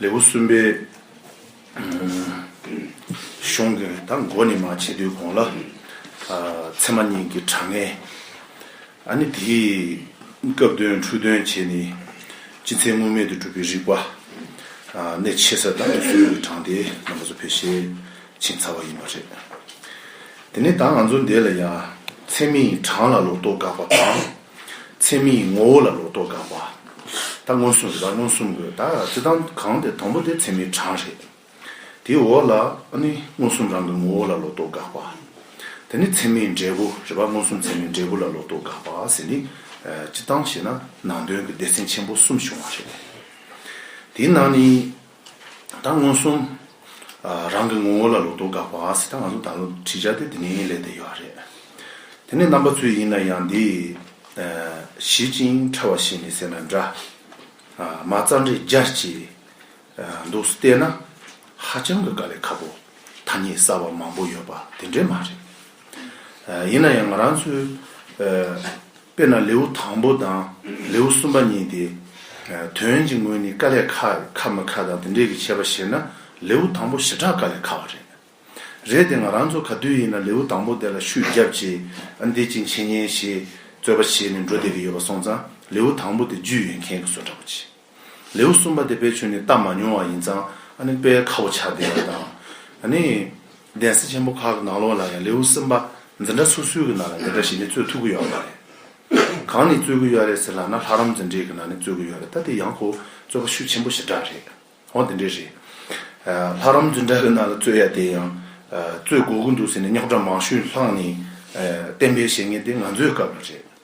ལེའུ་གསུམ་པའི་གཞུང་གི་ད་མགོ་ནས་མ་ཕྱེ་དུས་གོང་ལ་ཚད་མ་གཉིས་ཀྱི་དྲང་ངེས། ཨ་ནི་དེས་སྐབས་དོན་འཁྲུལ་དོན་བྱས་ནས་སྤྱི་མཚན་དངོས་མེད་དུ་གྲུབ་པའི་རིགས་པ། གནད་ཆེ་ས་དང་སྲོལ་ཡིག་གི་དྲང་དེ་རྣམ་པ་སོ་ཕེར་ཤས་ཆེ་ཚ་བ་ཡིན་པ་རེད། དེ་ནས་ད་ང་ཚོ་འདས་ལ་ཡང་ཚད་མའི་དྲང་ལ་ལོག་རྟོག་དགག་པ་དང། ཚད་མེད་ཀྱི་ངོ་བོ་ལ་ལོག་རྟོག་དགག་པ། ད་མངོན་སུམ་རེད་པ་མངོན་སུམ་དགོས་ད་བྱེད་སྟངས་གང་དེ་དང་པོ་དེ་ཚད་མའི་གྲངས་རེད། དེའི་འོག་ལ་ཨ་ནི་མངོན་སུམ་རང་གི་ངོ་བོ་ལ་ལོག་རྟོག་དགག་པ། དེ་ནི་ཚད་མའི་འབྲས་བུ་རེད་པ་མངོན་སུམ་ཚད་མའི་འབྲས་བུ་ལ་ལོག་རྟོག་དགག་པ་ཟེར་ནི། བྱེད་སྟངས་ཞེས་ན་ནང་དོན་གྱི་སྡེ་ཚན་ཆེན་པོ་གསུམ་བྱུང་བ་རེད། དེའི་ནང་ནས་ད་མངོན་སུམ། རང་གི་ངོ་བོ་ལ་ལོག་རྟོག་འགག་པ། ད་ང་ཚོ་ད་ལོ་བྲིས་ཆ་དེ་དེ་ནས་ལས་བསྡད་ཡོད་ཨ་རེད། དེ་ནས་རྣམ་པ་ཚོས་ཡིན་ན་ཡང་འདི། ཞི་ཅིང་ཕྲ་བ་ཞིག་ནས་ཟེར་ན་འདྲ། མ་རྩ་འབྲས་རྒྱ་བཅས། འདུག་བལྟས་ན། ཧ་ཅང་གི་དཀའ་ལས་ཁ་པོ། ཐ་སྙད་གསར་བ་མང་པོ་ཡོད་པ་དེ་འདྲས་མ་རེད། ཡིན་ན་ཡང་ང་རང་ཚོའི། དཔེར་ན་ལེའུ་དང་པོ་དང་ལེའུ་གསུམ་པ་གཉིས་ཏེ། དོན་གྱི་དངོས་ནི་ཀ་ལས་ཁ་རེད་ཁ་མི་ཁ་དང་དེ་འདྲས་ཀྱི་འཆད་པ་བྱེད་ན་ལེའུ་དང་པོ་བྱེ་བྲག་ཀ་ལས་ཁ་བ་རེད། རེད་དེ་ང་རང་ཚོ་ག་དུས་ཡིན་ན་ལེའུ་དང་པོ་དེ་ལ་ཤུགས་བརྒྱབ་ཅེས་འདི་ཅིག་འཆད་ཉན་ཞེས་རྩོད་པ་བྱེད་ནས་འགྲོ་བསྡད་ཀྱི་ཡོད་པ་སོང་ཙང་ལེའུ་དང་པོ་དེ་རྒྱུས་ཡོད་མཁན་གྱི་བཟོ་འདྲ་པོ་བྱེད། ལེའུ་གསུམ་པ་དེ་དཔལ་ཆོས་ནི་བལྟ་མ་མྱོང་བ་ཡིན་ཙང་ཨ་ནི་དཔལ་ཁ་བོ་བྱ་བདེ་བ་དང། ཨ་ནི། གདན་ས་ཆེན་པོ་ཁག་གི་ནང་ལོགས་ལ་ཡང་ལེའུ་གསུམ་པ་འཛིན་གྲྭ་སོ་སོའི་གི་ནང་ལ་འདི་འདྲ་ཞིག་ནི་རྩོད་ཐུབ་ཀི་ཡོད་རེད། གང་ནས་རྩོད་ཀི་ཡོད་རེད་ཟེར་ལགས་ན་ལྷ་རམས་འཛིན་གྲྭའི་གི་ནང་ནས་རྩོད་ཀི་ཡོད་རེད་ད་དེ་ཡང་ཁོ་བོ་རྩོད་པ་ཤུགས་ཆེན་པོ་ཞེ་དྲག་རེད། འོ་དེ་འདྲས་རེད། ལྷ་རམས་འཛིན་གྲྭ་གི་ནང་ལ་རྩོད་ཡ་དེ་ཡང། རྩོད་དགོས་ཀི་འདུག་ཟེར་ནས་རྙོག་དྲ་མང་ཤོས་ལྷང་ནས། བསྟན་པའི་བཤད་ངན་དེ་ང་ཚོའི་སྐབས་ལ་རེད།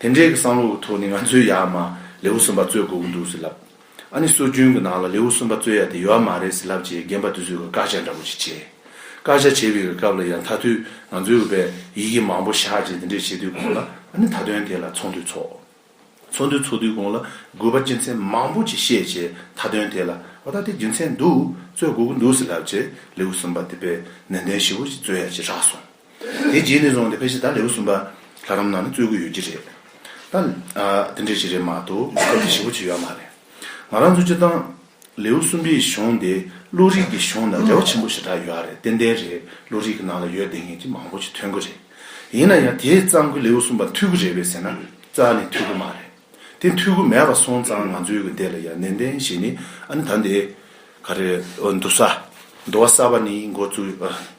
དེ་འདྲའི་གི་བསམ་བློ་བའི་ཐོག་ནས་ང་ཚོའི་ཡ་མ་ལེའུ་གསུམ་པ་རྩོད་དགོས་ཀྱི་འདུག་ཟེར་ལབ། ཨ་ནི་སྲོལ་རྒྱུན་གྱི་ནང་ལ་ལེའུ་གསུམ་པ་རྩོད་ཡ་དེ་ཡོད་མ་རེད་ཟེར་ལབ་རྗེས་རྒན་པ་དེ་ཚོས་གི་བཀའ་ཤག་འདྲ་པོ་ཞིག་བྱས། བཀའ་ཤག་བྱས་པའི་གི་སྐབས་ལ་ཡང་ཐ་དུས་ང་ཚོའི་གི་བས་ཡི་གེ་མང་པོ་བཞག་རྗེས་དེ་འདྲའི་བྱེད་དུས་གོང་ལ་ཨ་ནི་ད་དོན་དེ་ལ་ཚོགས་འདུ་ཚོགས། ཚོགས་འདུ་ཚོགས་དུས་གོང་ལ་དགོས་པ་རྒྱུ་མཚན་མང་པོ་ཅིག་བཤད་རྗེས་ད་དོན་དེ་ལ་ཨོ་ད་དེ་རྒྱུ་མཚན་འདུག་རྩོད་དགོས་ཀྱི་འདུག་ཟེར་ལབ་རྗེས་ལེའུ་གསུམ་པ་དེ་བས་ནན་ཏན་ཞིབ་བོ་ཞིག་རྩོད་ཡ་ཅིག་རག་སོང། དེའི་རྗེས་ནས་བཟུང་སྟེ་ཕལ་ཆེར་ད་ལེའུ་གསུམ་པ་ལྷ་རམས་ནང་ནས་རྩོད་དགོས་ཡོད་ཀྱི་རེད། ད། དེ་འདྲའི་ཞིག་རེད་མ་གཏོགས་སྐབས་དེ་ཞིབ་པོ་བྱས་ཡོད་མ་རེད། ང་རང་ཚོའི་སྤྱིར་བཏང། ལེའུ་གསུམ་པའི་གཞུང་དེ་བློ་རིག་གི་གཞུང་དང་འབྲེལ་བ་ཆེན་པོ་ཞེ་དྲག་ཡོད་རེད་ཏན་ཏན་རེད་བློ་རིག་གི་ནང་ལ་ཡོད་བསྡད་མཁན་གྱི་མང་པོ་ཞིག་ཐོན་གི་རེད། ཡིན་ན་ཡང་དེས་གཙང་གི་ལེའུ་གསུམ་པ་འཐུས་གི་རེད་བས་ཟེར་ན་རྩ་ནས་འཐུས་གི་མ་རེད། དེ་འཐུས་གི་མེད་པ་སོང་ཙང་ང་ཚོའི་གི་འདི་ལ་ཡང་ནན་ཏན་ཞིག་ནི་ཨ་ནི་ད་འདི། ག་རེ། འདུ་ས། འདུ་བ་ས་པ་ནི་འགོ་བཙུགས།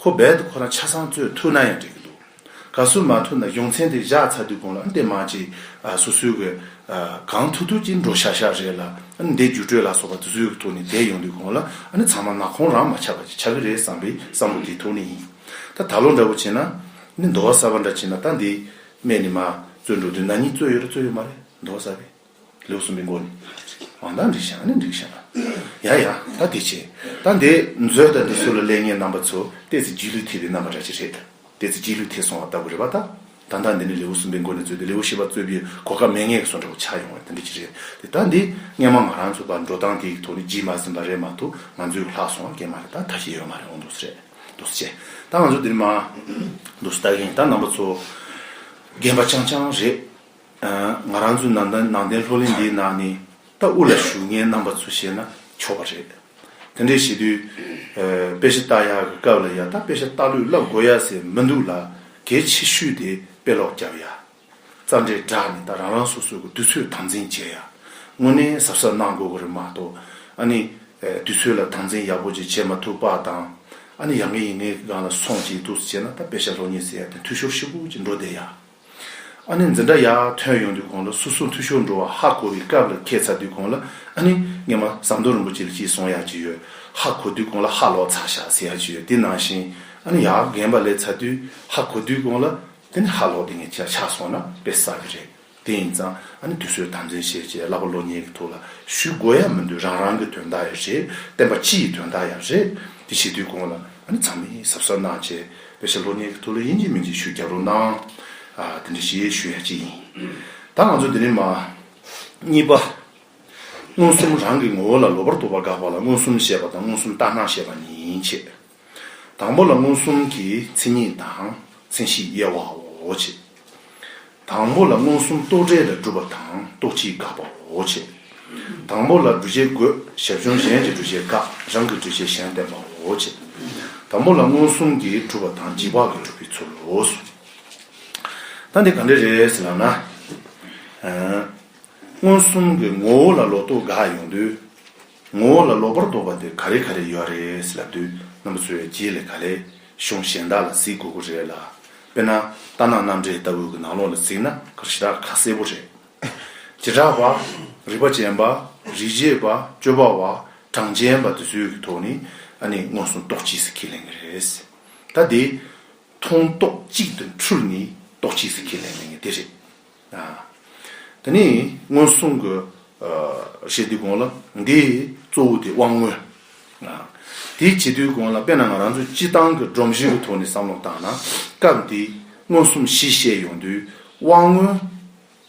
ཁོ་རྦད་དུ་ཁོ་རང་ཆ་ཚང་རྩོད་ཐུབ་ན་ཡང་འགྲིག་གི་འདུག་ག་བསུ་མ་ཐུབ་ན་གཞུང་ཚན་དེ་བཞག་ཚར་དུས་གོང་ལ་འདེད་མ་ཅིག་སུ་སུའི་གི་གང་ཐུག་ཐུག་ཅིག་འགྲོ་ཤག་ཤག་རེད་ལ་འདེད་བརྒྱུད་སྤྲོད་ལ་སོགས་པ་དུ་སུའི་གི་ཐུག་ནས་འདེད་ཡོང་དུས་གོང་ལ་ཚང་མ་ནག་ཁོང་རང་མ་ཆགས་པ་ཅིག་ཆགས་གི་རེད་བསམ་པའི་བསམ་བློ་དེ་ཐུག་ནས་ཡིན་ད་ད་ལོ་འདྲ་བོ་བྱེད་ན་ནི་མདོ་བ་གསར་བ་འདྲ་བྱེད་ན་ད་འདི་སྨད་ནས་མ་རྩོད་འགྲོ་དུས་ན་ནི་རྩོད་ཡོད་ར་རྩོད་ཡོད་མ་རེད་མདོ་བ་གསར་བས། ལེའུ་སུམ་པའི་མགོ་ནས། མ་མདངས་འགྲིག་ཤག་ནི་འགྲིག་ཤག། ཡ་ཡ། ད་དེ་བྱས། ད་འདི་མཛོད་ད་འདི་སུ་ལ་ལེགས་ངའི་རྣམ་པ་ཚོ་ལྟས་ཚེ་སྒྱིད་ལུད་ཐེབས་པའི་རྣམ་པ་འདྲ་ཅི་རེད། ལྟས་ཚེ་སྒྱིད་ལུད་ཐེབས་སོང་བ་ལྟ་བུ་རེད་བ་ད། ད་ད་འདི་ནི་ལེའུ་སུམ་པའི་མགོ་ནས་རྩོད་དེ་ལེའུ་བཞི་པ་རྩོད་པའི་གོ་སྐབས་མེད་ངེས་སོ་འདྲ་བོ་ཆགས་ཡོང་བ་ད་འདི་ཅི་རེད་དེ་ད་འདི་སྔན་མ་ང་རང་ཚོ་བར་འགྲོ་སྟངས་དེའི་ཐོག་ནས་སྒྱིད་མ་ཟིན་པ་རེད་མ་གཏོགས་ང་ཚོའི་ལྷག་སོང་བ་སྐད་མ་རེད་ད་ད་ཤེས་ཡོད་མ་རེད་འོང་འདུག་སེ་རེད་འདུག་སེ་ད་ང་ཚོ་འདིར་མ་འདུག་སེ་ད་ཡིན་ད་རྣམ་པ་ཚོ་རྒན་པ་ཅང་ཅང་རེད། ང་རང་ཚོའི་ནང་བསྟན་ནང་བསྟན་ལྷོ་གླིང་འདིའི་ནང་ནས་རྟ་དབུ་ལ་ཞུགས་མཁན་རྣམ་པ་ཚོ་བཤད་ན་ཆོག་པ་རེད། དེ་འདྲའི་བྱེད་དུས་དཔེ་ཆ་བལྟ་ཡག་གི་སྐབས་ལ་ཡང་དག་དཔེ་ཆ་བལྟ་ལུས་བསླབ་དགོས་ཡག་ཟེར་མི་འདུག་ལ་གལ་ཆེ་ཤོས་དེ་དཔེ་ཀློག་བརྒྱབ་ཡག། རྩ་འགྲེལ་བསྒྲགས་ནས་ད་རང་རང་སོ་སོ་གི་དུས་ཚོད་དམ་འཛིན་བྱས་ཡག་དངོས་གནས་གཟབ་གཟབ་གནང་དགོས་གི་རེད་མ་གཏོགས་ཨ་ནི་དུས་ཚོད་ལ་དམ་འཛིན་ཡག་པོ་ཅིག་བྱེད་མ་ཐུབ་པ་དང་ཨ་ནི་ཡ་ངའི་ཡིན་ངའི་གི་སྒང་ལ་སོང་ཅིག་ཐུགས་སུ་བྱས་ན་ད་དཔེ་ཆ་ལྷོ་གཉེར་ཟེར་ཡག་དེ་འཐུས་ཤོར་ཤོར་པོ་ཅིག་འགྲོ་བསྡད་ཡག། ཨ་ནི་འཛིན་གྲྭ་ཡར་ཐོན་ཡོང་དུས་གོང་ལ་སོ་སོ་འཐུས་ཤོར་འགྲོ་བ་ཧ་གོ་བའི་སྐབས་ལ་ཁད་ཚར་དུས་གོང་ལ་ཨ་ནི་ངེད་མ་ཟམ་གདོང་རིན་པོ་ཆེ་ལ་ཅིག་སོང་ཡག་ཅིག་ཡོད་ཧ་གོ་དུས་གོང་ལ་ཧ་ལོག་ཚར་ཤག་ཟེར་ཡག་ཅིག་ཡོད་དེ་ནང་བཞིན་ཨ་ནི་ཡར་རྒན་པ་ལས་ཚར་དུས་ཧ་གོ་དུས་གོང་ལ་དེ་ནི་ཧ་ལོག་དེ་ངས་ཆགས་སོང་ན་དཔེ་ཟ་གི་རེད་དེ་ཡིན་ཙང་ཨ་ནི་དུས་ཚོད་དམ་འཛིན་བྱེད་ཅེས་གླ་པ་བློ་ཉེས་ཀྱི་ཐུགས་ལ་ཞུ་དགོས་ཡ་མི་འདུག་རང་རང་གི་དོན་དག་ཡ་རེད་བསྟན་པ་སྤྱི་ཡི་དོན་དག་ཡ་རེད་དེ་བྱེད་དུས་གོང་ལ་ཨ་ནི་ཚང་མས་ཟབ་ཟབ་གནང་བྱས། བོད་ཟེར་ལོ་ནི་ཐུགས་ལ་དབྱིན་ཇིའི་མིང་ཅིག་ཞུ་རྒྱག་རོགས་གནང། དེ་འདྲ་ཞེས་ཞུ་ཡ་ཅི་ཡིན། ད་ང་ཚོ་འདི་ནས་མ། གཉིས་པ། མངོན་སུམ་རང་གི་ངོ་བོ་ལ་ལོ་པར་དོ་པ་འགག་པ་ལ་མངོན་སུམ་བཤད་པ་དང་མངོན་སུམ་ལྟ་སྣང་བཤད་པ་གཉིས་ཡིན་བྱས། དང་པོ་ལ་མངོན་སུམ་གྱི་མཚན་ཉིད་དང་མཚན་གཞི་དབྱེ་བའོ་བྱས། དང་པོ་ལ་མངོན་སུམ་རྟོག་བྲལ་ལ་སྒྲུབ་པ་དང་རྟོག་ཕྱིའི་དགག་པའོ། བྱེད་དང་པོ་ལ་འདུ་བྱེད་དགོད་ཞབས་ཅུང་གཞན་གྱི་འདུ་བྱེད་དགག་རང་གི་འདུ་བྱེད་གཞན་བསྟན་པའོ། བྱེད་དང་པོ་ལ་མངོན་སུམ་གྱིས་གྲུབ་པ་དང་འཇིག་བག་གིས་གྲུབ་པའི་ཚུལ་ལོ། ད་འདི་ག་འདྲ་རེད་ཟེར་ན། མངོན་སུམ་གྱི་ངོ་བོ་ལ་ལོག་རྟོག་དགག་ཡོང་དུས། ངོ་བོ་ལ་ལོག་པར་རྟོག་པ་དེ་ག་རེ་ག་རེ་ཡོད་རེད་ལབ་དུས་རྣམ་པ་ཚོའི་རྗེས་ལས་ག་ལས་གཞུང་གཞན་དག་ལ་གཟིགས་དགོས་དགོས་རེད་ལ། དཔེར་ན་རྟ་ནག་གནམ་འདྲེ་ལྟ་བུ་གི་ནག་ལོག་ལ་གཟིགས་ན་གར་གཞི་དག་ཁ་གསལ་པོ་རེད། བྱེ་བྲག་པ། རིག་པ་ཅན་པ། རིག་བྱེད་པ། སྤྱོད་པ་བ། གྲངས་ཅན་པ་དེ་ཚོའི་གི་ཐོག་ནས་ཨ་ནི་མངོན་སུམ་རྟོག་གཅིག་སི་ཁས་ལེན་གི་རེད། ད་དེ། མཐོང་རྟོག་གཅིག་དུ་འཁྲུལ་ནས་རྟོག་གཅིག་སི་ཁས་ལེན་གི་རེད་དེ་རེད། དེ་ནས་སྔོན་སོང་གི་ཞེས་དུས་གོང་ལ་འདིའི་གཙོ་བོ་དེ་དབང་མངོན། དེའི་བྱེད་དུས་གོང་ལ་དཔེར་ན་ང་རང་ཚོས་སྤྱི་བཏང་གི་སྒྲོམ་གཞི་གི་ཐོག་ནས་བསམ་བློ་བཏང་ན་སྐབས་འདིའི་མངོན་སུམ་བཞི་བཤད་ཡོང་དུས་དབང་མངོན།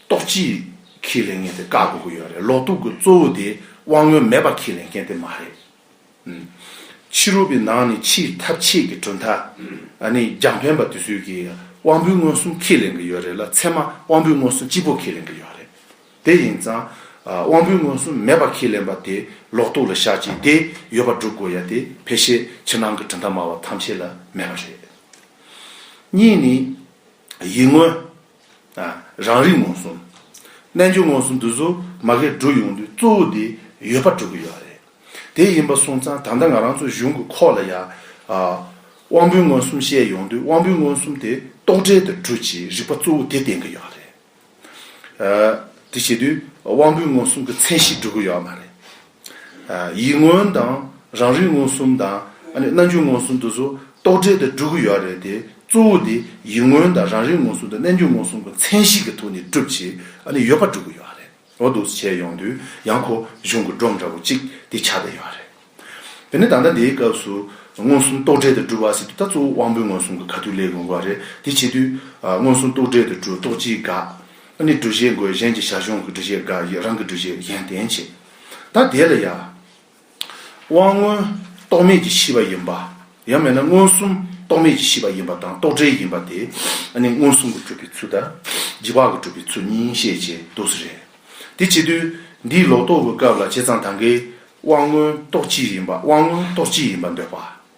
རྟོགས་བྱེད་ཁས་ལེན་མཁན་དེ་བཀག་དགོས་ཀྱི་ཡོད་རེད་ལོག་རྟོག་གི་གཙོ་བོ་དེ་དབང་མངོན་མེད་པ་ཁས་ལེན་མཁན་དེ་མ་རེད། ཕྱི་རོལ་པའི་ནང་ནས་ཕྱིའི་ཐབས་ཆེད་ཀྱི་གྲུབ་མཐའ། རྒྱང་ཕན་པ་དེ་ཚོས་ཀྱིས་དབང་པོའི་མངོན་སུམ་ཁས་ལེན་གྱི་ཡོད་རེད་ལ་ཚད་མ་དབང་པོའི་མངོན་སུམ་སྤྱི་བོ་ཁས་ལེན་གྱི་ཡོད་རེད། དེ་ཡིན་ཙང། དབང་པོའི་མངོན་སུམ་མེད་པ་ཁས་ལེན་པ་དེ་ལོག་རྟོག་ལ་བཞག་ཅིང་དེ་ཡོད་པ་སྒྲུབ་དགོས་ཡ་དེ་ཕལ་ཆེར་ཕྱི་ནང་གི་གྲུབ་མཐའ་སྨྲ་བ་ཐམས་ཅད་ལ་མེད་པ་རེད། གཉིས་ནི། ཡིད་མངོན། རང་རིག་མངོན་སུམ། རྣལ་འབྱོར་མངོན་སུམ་འདི་ཚོ་མ་གས་བསྒྲུབ་ཡོང་དུས་གཙོ་བོ་དེ་ཡོད་པ་སྒྲུབ་གི་ཡོད་རེད། དེ་ཡིན་པ་སོང་ཙང་ད་ལྟ་ང་རང་ཚོ་གཞུང་གི་ཁོག་ལ་ཡང། དབང་པོའི་མངོན་སུམ་བཤད་ཡོང་དུས་དབང་པོའི་མངོན་སུམ་དེ་རྟོག་བྲལ་དུ་བསྒྲུབ་ཅེས་རིག་པ་གཙོ་བོ་དེ་བསྟན་གི་ཡོད་རེད། དེ་བྱེད་དུས་དབང་པོའི་མངོན་སུམ་གྱི་མཚན་གཞི་སྒྲུབ་གི་ཡོད་མ་རེད། ཡིད་མངོན་དང་རང་རིག་མངོན་སུམ་དང། རྣམ་འགྱུར་མངོན་སུམ་དུ་སོ། རྟོག་བྲལ་དུ་སྒྲུབ་ཀྱི་ཡོད་རེད་དེ། གཙོ་བོ་དེ་ཡིད་མངོན་དང་རང་རིག་མངོན་སུམ་དང་རྣན་འགྱུར་མངོན་སུམ་གྱི་མཚན་གཞི་གི་ཐོག་ནས་སྒྲུབ་བྱེད་ཡོད་པ་སྒྲུབ་ཀྱི་ཡོད་རེད། འོ་འདུག་བྱས་ཡོང་དུས་ཡང་ཁོ་གཞུང་གི་སྒྲོམ་འདྲ་བོ་གཅིག་དེ་ཆགས་བསྡད་ཡོད་རེད། དེ་ནས་ད་ལྟ་འདིའི་སྐབས་སུ། མངོན་སུམ་རྟོག་བྲལ་དུ་སྒྲུབ་བ་ཟེར་དུས་ད་གཙོ་བོ་དབང་པོའི་མངོན་སུམ་གྱི་ག་དུས་ལས་དགོས་མཁོ་བ་རེད། དེ་བྱེད་དུས། མངོན་སུམ་རྟོག་བྲལ་དུ་སྒྲུབ་རྟོག་སྤྱིའི་དགག། ཨ་ནི་འདུ་ཤེས་འགོད་གཞན་གྱི་བྱ་གཞུང་གི་འདུ་ཤེས་འགའ་ཡིས་རང་གི་འདུ་ཤེས་གཞན་བརྟེན་བྱེད། ད་དེ་ལ་ཡང། དབང་མངོན་རྟོག་མེད་ཀྱིས་ཤི་བ་ཡིན་པ། ཡང་མེད་ན་མངོན་སུམ་རྟོག་མེད་ཀྱིས་ཤི་བ་ཡིན་པ་དང་རྟོག་བྲལ་ཡིན་པ་དེ་ཨ་ནི་མངོན་སུམ་གྱི་གྲུབ་པའི་ཚུལ་དང། བགྱི་བག་གི་གྲུབ་པའི་ཚུལ་གཉིས་ཤེས་བྱའི་རྡོ་རྩི་རེད། དེ་བྱེད་དུས། འདིའི་ལོག་རྟོག་གི་སྐབས་ལ་བྱས་ཙང་ད་འགའི་དབང་མངོན་རྟོག་སྤྱི་ཡིན་པ་དབང་མངོན་རྟོག་སྤྱི་ཡིན་པར་འདོད་པ།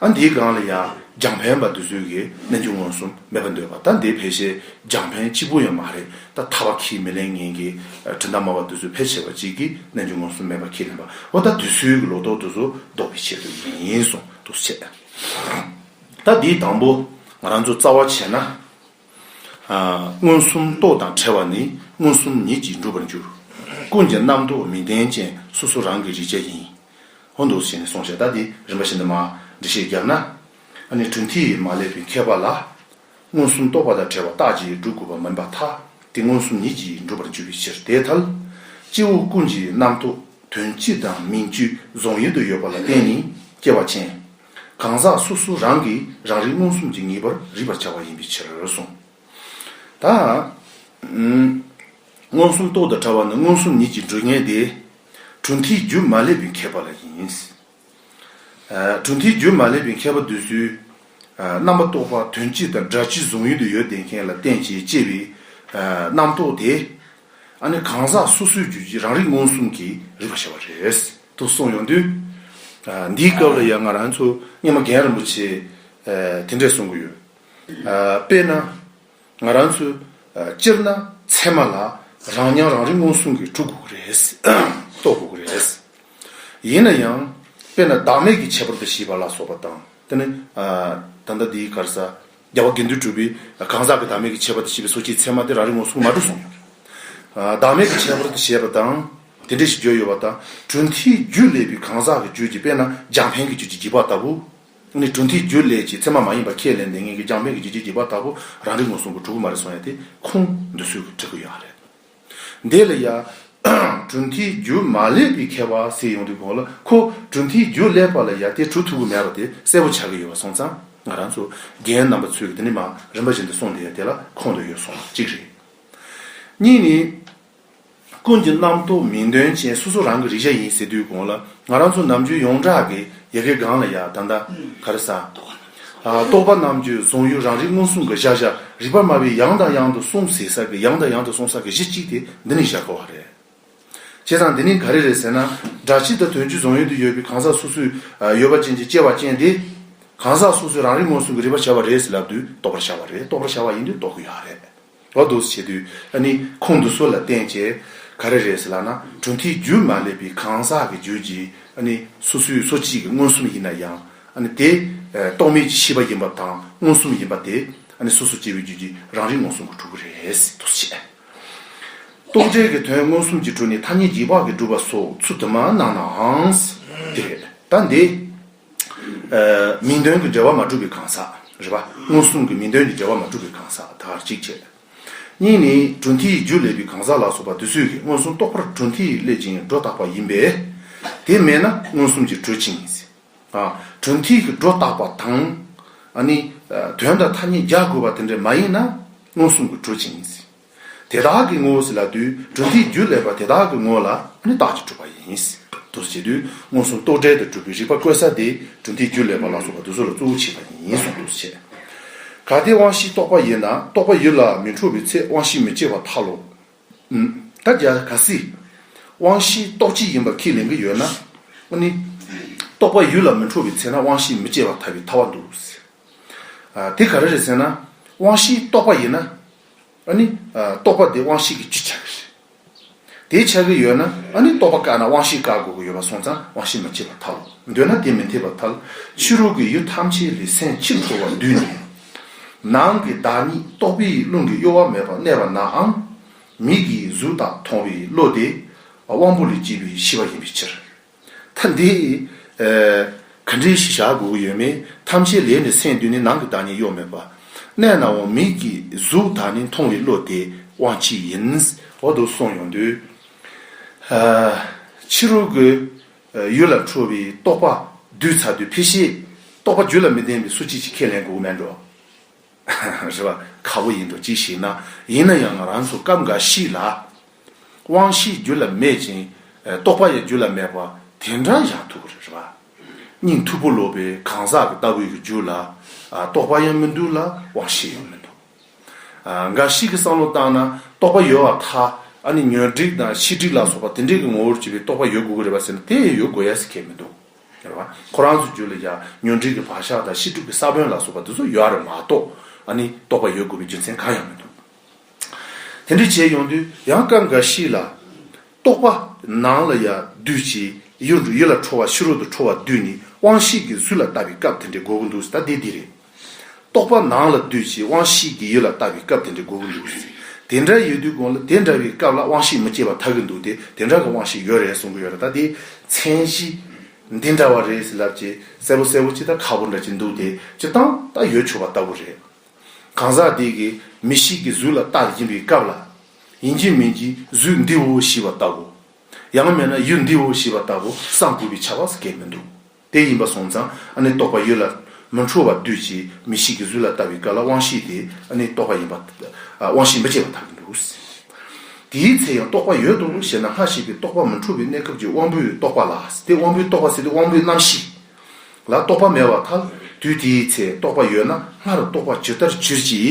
ཨ་འདིའི་སྒང་ལ་ཡང་རྒྱང་ཕན་པ་འདི་ཚོས་ཀྱི་རྣལ་འབྱོར་མངོན་སུམ་མེད་པ་འདོད་པ་ད་འདི་ཕལ་ཆེར་རྒྱང་ཕན་གཅིག་པུ་ཡང་མ་རེད་ད་མཐའ་བ་ཁྱིས་མི་ལེན་ངན་གྱི་དྲི་མདའ་མ་བ་འདི་ཚོས་ཕལ་ཆེ་བ་གཅིག་གི་རྣལ་འབྱོར་མངོན་སུམ་མེད་པ་ཁྱིས་ལེན་པ་འོ་ད་འདི་ཚོའི་གི་ལོ་ཏོག་འདི་ཚོ་ལྡོག་པའི་ཆེད་དུ་ཡིན་གསུང་འདུག་བྱས། ད་འདིའི་དང་པོ་ང་རང་ཚོ་རྩ་བ་བྱས་ན། མངོན་སུམ་རྟོག་དང་བྲལ་བ་ནི་མངོན་སུམ་ཉིད་ཀྱིས་འགྲུབ་པར་འགྱུར། ཀུན་གྱི་རྣམ་རྟོག་མི་ལྡན་ཅན་སོ་སོ་རང་གི་རིག་བྱ་ཡིན། ཧོན་འདུག་བྱས་ནས་སོང་ཞེས་ད་དེ་རིམ་པ་བཞིན་དུ་མ་འདྲི་ཞེས་བརྒྱབ་ན། ཨ་ནི་གྲུ་འདིས་མ་བསླད་པའི་མཁས་པ་ལ། མངོན་སུམ་རྟོགས་པ་དང་བྲལ་བ་རྟགས་ཀྱིས་བསྒྲུབ་དགོས་པ་མིན་པར་ཐ་དེ་མངོན་སུམ་ཉིད་ཀྱིས་འགྲུབ་པར་འགྱུར་བའི་ཕྱིར་དེའི་ཐལ། སྐྱེ་བོ་ཀུན་གྱི་རྣམ་རྟོག་དོན་སྤྱི་དང་མིང་བཅུའི་རྫོང་ཡུལ་དུ་ཡོད་པ་ལ་བརྟེན་ནས་སྐྱེ་བ་ཅན། གང་ཟག་སོ་སོ་རང་གིས་རང་རིག་མངོན་སུམ་གྱི་ངེས་པར་རིག་པར་བྱ་བ་ཡིན་པའི་ཕྱིར་རོ་གསུངས། ད། མངོན་སུམ་རྟོགས་དང་བྲལ་བ་ནི་མངོན་སུམ་ཉིད་ཀྱིས་འགྲུབ་ངེས་ཏེ། གྲུ་འཐིགས་རྒྱུ་མ་སླེབས་པའི་མཁས་པ་ལ་ཡིན། གྲུ་འཐིགས་རྒྱུ་མ་སླེབས་པའི་མཁས་པ་འདོད་ཚུལ། རྣམ་པ་རྟོག་པ་དོན་སྤྱི་དང་སྒྲ་སྤྱི་གཟུང་ཡུལ་དུ་ཡོད་བསྡད་མཁན་ལ་བསྟན་བྱའི་དཔྱད་པའི་རྣམ་རྟོག་དེ། ཨ་ནི་གང་ཟག་སོ་སོའི་རྒྱུད་ཀྱི་རང་རིག་མངོན་སུམ་གྱི་རིག་པ་ཞེས་པ་རེད། དུ་གསུངས་ཡོང་དུས། འདིའི་སྐབས་ལ་ཡང་ང་རང་ཚོ་སྙེ་མ་རྒན་རིན་པོ་ཆེས་དེ་འདྲས་གསུངས་ཀྱི་ཡོད། དཔེར་ན། ང་རང་ཚོས་སྤྱིར་ན་ཚད་མ་ལ་རང་མྱང་རང་རིག་མངོན་སུམ་གྱིས་གྲུབ་དགོས་ཀྱི་རེད། རྟོགས་དགོས་ཀྱི་རེད། ཡིན་ན་ཡང། དཔེར་ན་བདག་མེད་ཀྱི་ཁྱད་པར་དུ་ཞེས་པ་ལ་སོགས་པ་དང། དེ་ནི། ད་ལྟ་འདིའི་གར་ས། རྒྱལ་བ་དགེ་འདུན་གྲུབ་པའི་གང་ཟག་གི་བདག་མེད་ཀྱི་ཁྱད་པར་དུ་བྱས་པའི་སོ་སྐྱེའི་ཚད་མ་དེ་རང་རིག་མངོན་སུམ་མ་གྲུབ་སོང་ཡོད་རེད། བདག་མེད་ཀྱི་ཁྱད་པར་དུ་བྱས་པ་དང། དེ་འདྲ་ཞིག་བརྗོད་ཡོད་པ་དང་གྲུབ་མཐའི་རྒྱུད་ལས་པའི་གང་ཟག་གི་རྒྱུད་ཀྱི་དཔེར་ན་འཇམ་དཔལ་གྱི་རྒྱུད་ཀྱི་བགྱི་བ་ལྟ་བུ། ནི་གྲུ་འདིའི་རྒྱུ་ལས་ཀྱི་མཚན་མ་མ་ཡིན་པ་ཁས་ལེན་ཏེ་ངེད་ཀྱི་རྒྱང་འཕེན་གྱི་རྒྱུ་ཅི་བགྱིས་པ་ལྟ་བུ་རང་རིག་ངོ་སྲུང་གི་གྲུ་གུ་མ་རེ་སོང་ཡ་དེ་ཁུང་འདུ་ཚུལ་གྱི་བྲིས་སྐུ་ཡང་རེད། དེ་ལ་ཡང། གྲུ་འདིའི་རྒྱུ་མ་ལེགས་པའི་ཁྱད་པར་སེལ་ཡོང་དུས་གོང་ལ་ཁོ་གྲུ་འདིའི་རྒྱུ་ལེགས་པ་ལ་ཡ་དེ་གྲུ་ཐུག་གི་མེད་པ་དེ་གསལ་པོ་ཆགས་ཀྱི་ཡོད་པ་སོང་ཙང་ང་རང་ཚོ་རྒན་རྣམ་པ་ཚོས་ཀྱི་དེ་ནི་མ་རིན་པ་བཞིན་དུ་སོང་སྟེ་ཡ་དེ་ལ་ཁོང་དུ་ཡོད་སོང་གཅིག་རེད། གཉིས་ནི། ཀུན་གྱི་རྣམ་རྟོག་མིང་དོན་ཅན་སོ་སོ་རང་གི་རིག་བྱ་ཡིན་ཟེར་དུས་གོང་ལ་ང་རང་ཚོ་ནམ་རྒྱུན་ཡོངས་གྲགས་ཀྱི་ཡལ་གའི་སྒང་ལ་ཡ་ད་ད་ག་རེ་ཟ། རྟོག་པ་རྣམས་ཀྱི་བཟུང་ཡུལ་རང་རིག་མངོན་སུམ་གྱི་བཞག་བྱ་རིག་པར་སྨྲ་བའི་ཡང་དང་ཡང་དུ་གསུངས་ཟེར་ས་ཀྱི་ཡང་དང་ཡང་དུ་གསུངས་ས་ཀྱི་གཞི་གཅིག་དེ་འདི་ནི་བཞག་གོ་བ་རེད། བྱས་ཙང་འདི་ནི་ག་རེ་རེད་ཟེར་ན་སྒྲ་སྤྱི་དང་དོན་སྤྱི་བཟུང་ཡུལ་དུ་ཡོད་པའི་གང་ཟག་སོ་སོའི་ཡོད་པ་ཅན་གྱི་སྐྱེ་བ་ཅན་དེ་གང་ཟག་སོ་སོའི་རང་རིག་མངོན་སུམ་གྱི་རིག་པར་བྱ་བ་རེད་ཟེར་ལབ་དུས་རྟོག་པར་བྱ་བ་རེད་རྟོག་པར་བྱ་བ་ཡིན་དུས་རྟོག་གི་ཡོད་རེད། ལོ་དུག་བྱེད་དུས་ཨ་ནི་ཁོང་དུ་སོ་ལ་བསྟན་བྱས་ག་རེ་རེད་ཟེར་ལགས་ན་གྲུ་འཐིག་རྒྱུ་མ་སླེབས་པའི་གང་ཟག་གི་རྒྱུད་ཀྱི་ཨ་ནི་སོ་སོའི་སོ་གཅིག་གི་མངོན་སུམ་ཡིན་ན་ཡང་ཨ་ནི་དེ་རྟོག་མེད་ཀྱི་ཤེས་པ་ཡིན་པ་དང་མངོན་སུམ་ཡིན་པ་དེ་ཨ་ནི་སོ་སོ་སྐྱེ་བའི་རྒྱུད་ཀྱི་རང་རིག་མངོན་སུམ་གྱི་གྲུ་གུ་རེད་དུ་བྱས། རྟོག་བྲལ་གྱི་དོན་མངོན་སུམ་གྱི་གྲུ་ནི་ཐ་སྙད་རྒྱུད་བག་གིས་བསྒྲུབས་པ་སོགས་ཚུལ་དུ་མ་གནང་ནའང་དེ་རེད་ད་འདི། མིང་དོན་གྱི་འབྲེལ་བ་མ་གྲུབ་པའི་གང་ཟག། རེ་བ། མངོན་སུམ་གྱི་མིང་དོན་གྱི་འབྲེལ་བ་མ་གྲུབ་པའི་གང་ཟག་དག་གཅིག་བྱེད། གཉིས་ནི། གྲུ་འཐིལ་ཡིག་འཇུག་ལས་པའི་གང་ཟག་ལ་སོགས་པ་དུས་ཚོད་ཀྱིས་མངོན་སུམ་རྟོགས་པར་གྲུ་འཐིལ་ཡིག་སླེབ་ཅིང་སྒྲོ་བཏགས་པ་ཡིན་པས། དེ་མེད་ན་མངོན་སུམ་གྱི་གྲུ་འཆིང། གྲུ་འཐིལ་གྱི་སྒྲོ་བཏགས་པ་དང། ནི། དོན་དང་ཐ་སྙད་རྒྱག་དགོས་པ་དེ་འདྲ་མ་ཡིན་ན་མངོན་སུམ་གྱི་གྲུ་འཆིང། དེ་དག་གི་ངོ་བོ་སྲིད་ལ་དུས་གྲུབ་འདིས་རྒྱུ་ལས་པ་དེ་དག་གི་ངོ་བོ་ལ་ནི་རྟགས་ཀྱིས་གྲུབ་པ་ཡིན། དུ་བྱེད་དུས་མངོན་སུམ་རྟོག་བྲལ་དུ་གྲུབ་པའི་རིག་པ་བཀོད་ས་དེ་གྲུབ་འདིས་རྒྱུ་ལས་པ་ལ་སོགས་པ་དུ་སོ་ལ་གཙོ་བོ་བྱེད་པ་ཡིན་གསུངས་དུ་བྱས། གལ་ཏེ་དབང་བཞི་རྟོགས་པ་ཡོད་ན་རྟོགས་པ་ཡུལ་ལ་མི་འཕྲོ་བའི་ཚེ་དབང་བཞི་མི་སྐྱེ་བ་ཐལ་ལོ། ད་རྒྱ་གར་སིདྷི། དབང་བཞི་རྟོགས་བྱེད་ཡིན་པར་ཁས་ལེན་གྱི་ཡོད་ན། ནི། རྟོགས་པ་ཡུལ་ལ་མི་འཕྲོ་བའི་ཚེ་ན་དབང་བཞི་མི་སྐྱེ་བ་ཐལ་བའི་ཐལ་བ་འདུག། དེ་ག་རེ་རེད་ཟེར་ན། དབང་བཞི་རྟོགས་པ་ཡིན་ན། ཨཱ་ནི། རྟོག་པ་འདི་དབང་ཤེས་ཀྱི་བཅུད་ཆགས་པས་རེད། དེ་ཆགས་ཀྱི་ཡོད་ན་ཨཱ་ནི་རྟོག་པ་བཀག་ན་དབང་ཤེས་བཀག་དགོས་ཀྱི་ཡོད་པ་སོང་ཙང་དབང་ཤེས་མ་མཆིས་པར་ཐལ། འདོད་ན་དེ་མི་འཐད་པར་ཐལ། ཕྱི་རོལ་གྱི་ཡུལ་ཐམས་ཅད་ལས་སེམས་ཕྱིར་འཕོ་བར་འདུས་ནས། ནང་གི་བདག་ཉིད་རྟོག་པའི་རླུང་གི་གཡོ་བ་མེད་པར་གནས་པ་ནའང། མིག་གིས་གཟུགས་དག་མཐོང་བའི་བློ་དེ། དབང་པོ་ལས་སྐྱེས་པའི་ཤེས་པ་ཡིན་པའི་ཕྱིར། ད་འདི། ག་འདྲའི་གཞི་བཞག་དགོས་ཀྱི་ཡོད་མེད་ཐམས་ཅད་ལས་ནི་སེམས་འདུས་ནས་ནང་གི་བདག་ཉིད་གཡོ་མེད་པ། གནས་ན་འོང་མིག་གིས་གཟུགས་དག་ནི་མཐོང་བའི་བློ་དེ་དབང་གཅིག་ཡིན། འོག་ཏུ་སོང་ཡོང་དུས། ཕྱི་རོལ་གྱི་ཡུལ་ལ་འཕྲོ་བའི་རྟོག་པ་བསྡུས་ཚར་དུས་ཕལ་ཆེར་རྟོག་པ་རྒྱུད་ལ་མི་ལྡན་པའི་སུ་གཅིག་ཅིག་ཁས་ལེན་དགོས་ཀྱི་མེད་འགྲོ། རེད་པ་ཁག་པོ་ཡིན་འདུག་ཅིག་ཞིག་ན། ཡིན་ན་ཡང་ང་རང་ཚོ་སྐབས་འགའ་ཞིག་ལ། དབང་བཞི་རྒྱུད་ལ་མེད་ཅིང། རྟོགས་པ་ཡང་རྒྱུད་ལ་མེད་པ་དེ་འདྲ་ཡང་ཐུག་གི་རེད་རེད་པ། སྙིང་མཐུག་པོ་ལོག་པའི་གང་ཟག་གི་ལྟ་བུའི་གི་རྒྱུད་ལ། རྟོགས་པ་ཡང་མི་འདུག་ལ་དབང་བཞི་ཡང་མི་འདུག། འགའ་ཞིག་གི་བསམ་བློ་བཏང་ན་རྟོགས་པ་ཡོད་བ་ཐ། ཨ་ནི་ཉོན་སྒྲིག་དང་ཤི་སྒྲིག་ལ་སོགས་པ་དེ་འདྲས་ཀི་ངོ་བོར་གྱུར་པའི་རྟོགས་པ་ཡོད་དགོས་ཀི་རེད་པ་ཟེར་ན་དེ་ཡང་ཡོད་དགོས་ཡ་ཟེར་ཁྱད་མི་འདུག། ཡོད་པ། ཁོ་རང་ཚོའི་རྒྱུད་ལ་ཡང་ཉོན་སྒྲིག་གི་བག་ཆགས་དང་ཤི་སྒྲུབ་ཀྱི་ས་བོན་ལ་སོགས་པ་དེ་ཚོ་ཡོད་རེད་མ་གཏོགས། ནི་རྟོགས་པ་ཡོད་དགོས་པའི་རྒྱུ་མཚན་གང་ཡང་མི་འདུག། དེ་འདྲས་བྱས་ཡོང་དུས་ཡང་སྐབས་འགའ་ཞིག་ལ། རྟོགས་པ་ནང་ལ་ཡ་བདུད་ཅེས་གཡོ་འདུག་ཡིད་ལ་འཕྲོ་བ་ཕྱི་རོལ་དུ་འཕྲོ་བ་བདུད་ནི་དབང་ཤེས་ཀྱི་གཟུགས་ལ་ལྟ་བའི་སྐབས་དེ་འདྲས་དགོས་ཀྱི་འདུག་ད་དེ་འདི་རེད། རྟོག་པ་ནང་ལ་སྡུད་ཅིང་དབང་ཤེས་ཀྱིས་ཡུལ་ལ་ལྟ་བའི་སྐབས་དེ་འདྲའི་དགོས་ཀྱི་འདུག་དེ་འདྲ་ཡོད་དུས་དགོངས་ལ་དེ་འདྲ་བའི་སྐབས་ལ་དབང་ཤེས་མི་སྐྱེ་བ་ཐག་གི་འདུག་སྟེ་དེ་འདྲ་གི་དབང་ཤེས་ཡོད་རེད་གསུང་གི་ཡོད་རེད་ད་དེའི་མཚན་གཞི་འདི་འདྲ་བ་རེད་ཟེར་ལབ་ཀྱི་གསལ་པོ་གསལ་པོ་ཅིག་དང་ཁག་པོ་འདྲ་ཅིག་འདུག་དེ་སྤྱིར་བཏང་ད་ཡོད་ཆོག་པ་ལྟ་བུ་རེད། གང་ཟག་དེ་གི་མི་ཞིག་གི་གཟུགས་ལ་ལྟ་བཞིན་པའི་སྐབས་ལ། ཡིན་གྱི་མིན་གྱི་གཟུགས་འདིའོ་ཞེས་པ་ལྟ་བུ། ཡང་མེད་ན་ཡུལ་འདིའོ་ཞེས་པ་ལྟ་བུ་བསམ་དགོས་པའི་ཆ་བ་སྐད་མི་འདུག། དེ་ཡིན་པ་སོང་ཙང་ཨ་ནི་རྟོགས་པ་ཡོད་ལ། མི་འཕྲོ་བར་དུས་ཀྱི་མི་ཞིག་གིས་གཟུགས་ལ་ལྟ་བའི་སྐབས་ལ་དབང་ཤེས་དེ་ཨ་ནི་རྟོགས་པ་ཡིན་པ། དབང་ཤེས་མི་བརྗེད་པ་དག་གི་འདུག། དེའི་ཚེ་ཡང་རྟོགས་པ་ཡོད་དོ་ཞེ་ན་སྔར་བཤད་པའི་རྟོགས་པ་མི་འཕྲོ་བའི་གནས་སྐབས་ཀྱི་དབང་པོའི་རྟོགས་པ་ལ་དེ་དབང་པོའི་རྟོགས་པ་ཟེར་ཏེ་དབང་པོའི་རྣམ་ཤེས་ལ་རྟོགས་པ་མེད་པར་ཐལ། དུས་དེའི་ཚེ་རྟོགས་པ་ཡོད་ན་སྔར་རྟོགས་པ་ཇི་ལྟར་བྱིར་བགྱི།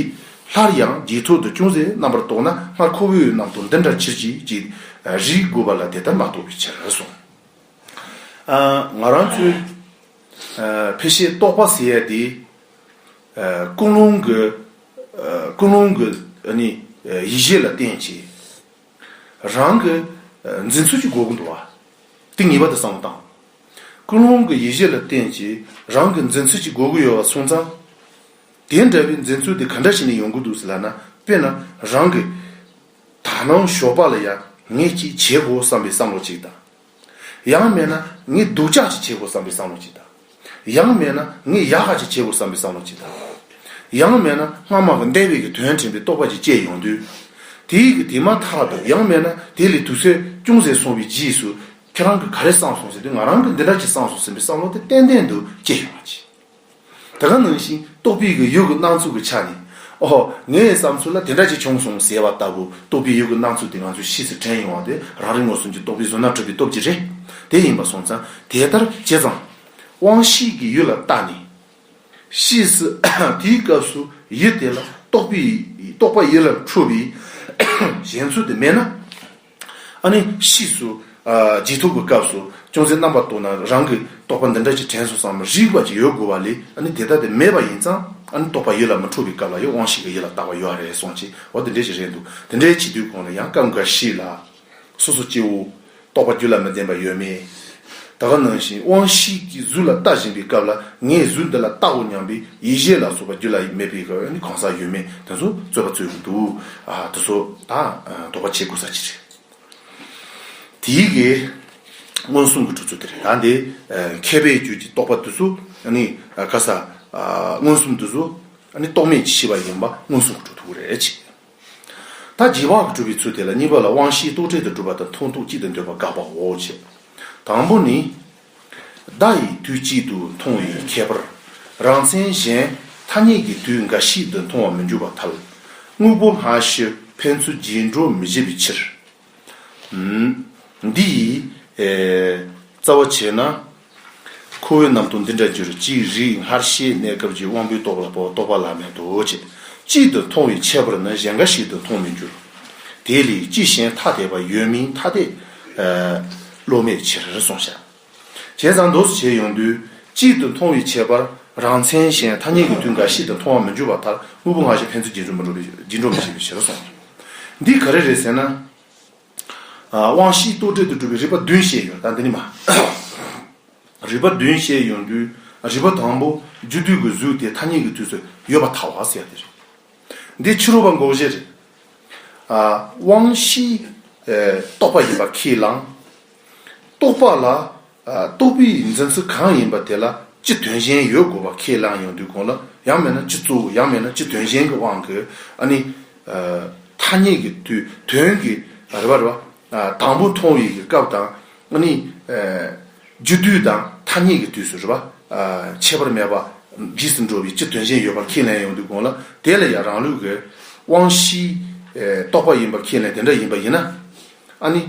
སླར་ཡང་རྗེས་ཐོག་ཏུ་ཅུང་ཟད་རྣམ་པར་རྟོགས་ན་སྔར་ཁོ་བོའི་ནང་དུ་འདི་འདྲ་བྱིར་བགྱི། རིགས་དགུ་པ་ལ་དེ་ལྟར་མ་རྟོགས་པའི་ཕྱིར་སོང། ང་རང་ཚོའི་ཕལ་ཆེར་རྟོགས་པ་ཟེར་ཡས་དེ། ཀུན་སློང་གི་ཀུན་སློང་གི་ཡིད་བཞིན་ལ་བརྟེན་བྱས། རང་གི་འཛིན་ཚུལ་གྱི་སྒོ་ཀུན་ཏུ། དེ་ངེས་པ་དེ་བསམ་བློ་བཏང། ཀུན་སློང་གི་ཡིད་བཞིན་ལ་བརྟེན་བྱས་རང་གི་འཛིན་ཚུལ་གྱི་སྒོ་ཀུན་ཡོད་པ་སོང་ཙང། དེ་འདྲ་བའི་འཛིན་ཚུལ་དེ་ག་འདྲ་ཞིག་ནས་ཡོང་གི་འདུག་ཟེར་ལགས་ན་དཔེར་ན་རང་གི་དག་སྣང་ཞོགས་པ་ལ་ཡང་ངས་ཅིག་བྱེད་དགོས་བསམ་པའི་བསམ་བློ་གཅིག་དང། ཡང་མེད་ན་ངས་སྡུག་ཅག་ཅིག་བྱེད་དགོས་བསམ་པའི་བསམ་བློ་གཅིག་དང། ཡང་མེད་ན་ངས་ཡག་ཧ་ཅིག་བྱེད་དགོས་བསམ་པའི་བསམ་བློ་གཅིག་དང། ཡང་མེད་ན་སྔ་མ་གི་འདས་པའི་གི་དོན་དྲན་པའི་རྟོག་པ་གཅིག་བཅས་ཡོང་དུས། དེ་ཡི་གི་དེ་མ་ཐག་ཏུ་ཡང་མེད་ན་དེ་ལས་དུས་ཚོད་ཅུང་ཟད་སོང་བའི་རྗེས་སུ་ཁྱེད་རང་གི་ག་རེ་བསམ་སོང་ཟེར་དུས་ང་རང་གི་འདི་འདྲ་ཅིག་བསམ་སོང་ཟིན་པའི་བསམ་བློ་དེ་ཏན་ཏན་དུ་སྐྱེ་ཡོང་བ་གཅིག། དེ་ག་ནང་བཞིན་ཏོག་དཔེ་ཡིག་གི་ཡུལ་གྱི་སྣང་ཚུལ་གྱི་ཆ་ནས། ཨོ། ངའི་བསམ་ཚུལ་ལ་དེ་འདྲ་ཞིག་བྱུང་སོང་ཟེར་བ་ལྟ་བུ་ཏོག་དཔེ་ཡིག་གི་སྣང་ཚུལ་དེ་ང་ཚོའི་གཤིས་སུ་དྲན་ཡོང་བ་དེ་རང་རེ་ངོས་གསུམ་གྱི་ཏོག་དཔེ་བཟོ་ན་གྲུབ་པའི་སྟོབས་ཀྱིས་རེད། དེ་ཡིན་པ་སོང་ཙང་དེ་ལྟར་བྱས་ཙང། དབང་ཤེས་ཀྱི་ཡུལ་ལ་བརྟགས་ནས། གཤིས་སུ་དེའི་སྐབས་སུ་ཡུལ་དེ་ལ་ཏོག་དཔེ་ཡིག་ཏོག་དཔེ་ཡིག་ལ་འཁྲུལ་བའི་གཞན་ཚུལ་དེ་མེད་ན། ཨ་ནི། ཕྱིས་སུ། རྗེས་ཐོབ་ཀྱི་སྐབས་སུ། ཅུང་ཟད་རྣམ་པར་རྟོག་ན་རང་གི་རྟོག་པ་འདི་འདྲ་ཅིག་དྲན་སོང་ཙང་མ་རིག་པ་ཅིག་ཡོད་དགོས་པ་ལས་ཨ་ནི་དེ་ལྟ་དེ་མེད་པ་ཡིན་ཙང་ཨ་ནི་རྟོག་པ་ཡིད་ལ་མི་འཕྲོ་བའི་སྐབས་ལ་ཡང་དབང་ཤེས་ཀྱི་ཡིད་ལ་བཏགས་པ་ཡོད་རེད་གསུངས་ཅི་འོ་དེ་འདྲས་ཅིག་རེད་འདུག་དེ་འདྲའི་བྱེད་དུས་གོང་ནས་ཡང་སྐབས་འགའ་ཞིག་ལ། སོ་སོ་སྐྱེ་བོ། རྟོག་པ་རྒྱུ་ལ་མི་ལྡན་པ་ཡོད་མེད། ད་ག་ནང་བཞིན་དབང་བཞི་གིས་གཟུགས་ལ་ལྟ་བཞིན་པའི་སྐབས་ལ་ངས་གཟུགས་འདི་ལ་བལྟའོ་སྙམ་པའི་ཡིད་བཞིན་ལ་སོགས་པ་རྒྱུ་ལ་མེད་པའི་གང་ཟག་ཡོད་མེད་དེ་ཚོ་རྩོད་པ་རྩོད་ཀྱི་འདུག་དེ་ཚོ་དང་དོགས་པ་བྱེད་དགོས་ས་ཅི་རེད། དེའི་གའི་མངོན་སུམ་གྱི་གྲུབ་ཚུལ་དེ་རེད་ད་འདི་མཁས་པའི་རྒྱུད་ཀྱི་རྟོགས་པ་འདི་ཚོ་ག་ས་མངོན་སུམ་འདི་ཚོ་རྟོགས་མེད་ཀྱི་ཤེས་པ་ཡིན་པ་མངོན་སུམ་གྱི་གྲུབ་ཐོབ་རེད། ད་རྗེས་དབང་གིས་གྲུབ་པའི་ཚུལ་དེ་ལ་གཉིས་པ་ལ་དབང་བཞིའི་རྟོག་བྲལ་དུ་གྲུབ་པ་དང་མཐོང་ཐུག་གཅིག་ཏུ་འདོད་པ་དགག་པའོ། དང་པོ་ནི། བརྡ་ཡིས་དུས་གཅིག་ཏུ་མཐོང་བའི་ཁྱད་པར། རང་མཚན་གཞན་ཐ་སྙད་ཀྱིས་དུས་འགའ་ཞིག་ཏུ་མཐོང་བར་མི་འགྱུར་བར་ཐལ། དངོས་པོ་སྔ་ཕྱི་ཕན་ཚུན་རྗེས་འགྲོ་མི་བྱེད་པའི་ཕྱིར། འདི་ཡིས། རྩ་བ་བྱས་ན། ཁོ་བོའི་ནང་དུ་འདི་འདྲ་གྱུར་ཅི་རིགས་སྔར་ཤེས་གནས་སྐབས་ཀྱི་དབང་པོའི་རྟོག་ལ་པོ་རྟོག་པ་ལ་མེད་དོ་ཅེས་གཅིག་ཏུ་མཐོང་བའི་ཁྱད་པར་ནི་གཞན་འགའ་ཞིག་ཏུ་མཐོང་མི་འགྱུར། དེ་ལས་ཅི་གཞན་ཐ་དད་པ་ཡོད་མིན་ཐ་དད། བློ་མེད་ཕྱིར་གསུངས་བྱ། བྱས་ཙང་མདོ་སུ་བྱས་ཡོང་དུས་གཅིག་ཏུ་མཐོང་བའི་ཁྱད་པར་རང་མཚན་གཞན་ཐ་སྙད་ཀྱི་དུས་འགའ་ཞིག་ཏུ་མཐོང་བ་མི་འགྱུར་བ་ལྟར་དངོས་པོ་སྔ་ཕྱི་ཕན་ཚུན་རྗེས་འགྲོ་མི་བྱེད་པའི་ཕྱིར་རོ་གསུངས། འདི་ག་རེ་རེད་ཟེར་ན། དབང་བཞིའི་རྟོག་བྲལ་དུ་གྲུབ་པའི་རིགས་པ་བདུན་བཤད་ཡོད་ད་འདི་ནི་མ། རིགས་པ་བདུན་བཤད་ཡོང་དུས་རིགས་པ་དང་པོ་རྒྱུ་དུས་ཀྱི་གཟུགས་དེ་ཐ་སྙད་ཀྱི་དུས་སུ་ཡོད་པ་ཐ་བ་ཟེར་བ་དེ་རེད། འདི་ཕྱི་རོལ་པ་འགོག་བྱེད་རེད། དབང་བཞིའི་རྟོག་པ་ཡིན་པར་ཁས་བླངས། རྟོག་པ་ལ། རྟོག་པའི་ཡིག་འཛིན་ཚུལ་གང་ཡིན་པ་དེ་ལ་སྤྱི་དོན་གཞན་ཡོད་དགོས་པ་ཁས་བླངས་ཡོང་དུས་དགོངས་ལ། ཡང་མེད་ན་སྤྱི་གཙོ་བོ་ཡང་མེད་ན་སྤྱི་དོན་གཞན་གྱི་དབང་གིས་ཨ་ནི། ཐ་སྙད་ཀྱི་དུས་དོན་གྱི་རེ་བར་བ། དང་པོ་མཐོང་ཡིག་གི་སྐབས་དང། ཨ་ནི། རྒྱུ་དུས་དང་ཐ་སྙད་ཀྱི་དུས་སུ་རེ་བ། ཁྱད་པར་མེད་པ། རྗེས་སུ་འགྲོ་བའི་སྤྱི་དོན་གཞན་ཡོད་པར་ཁས་ལེན་ཡོང་དུས་དགོངས་ལ། དེ་ལ་ཡང་རང་ལུགས་ཀྱི། དབང་བཞིའི། རྟོག་པ་ཡིན་པར་ཁས་ལེན་དེ་འདྲ་ཡིན་པ་ཡིན་ན། ཨཱ་ནི།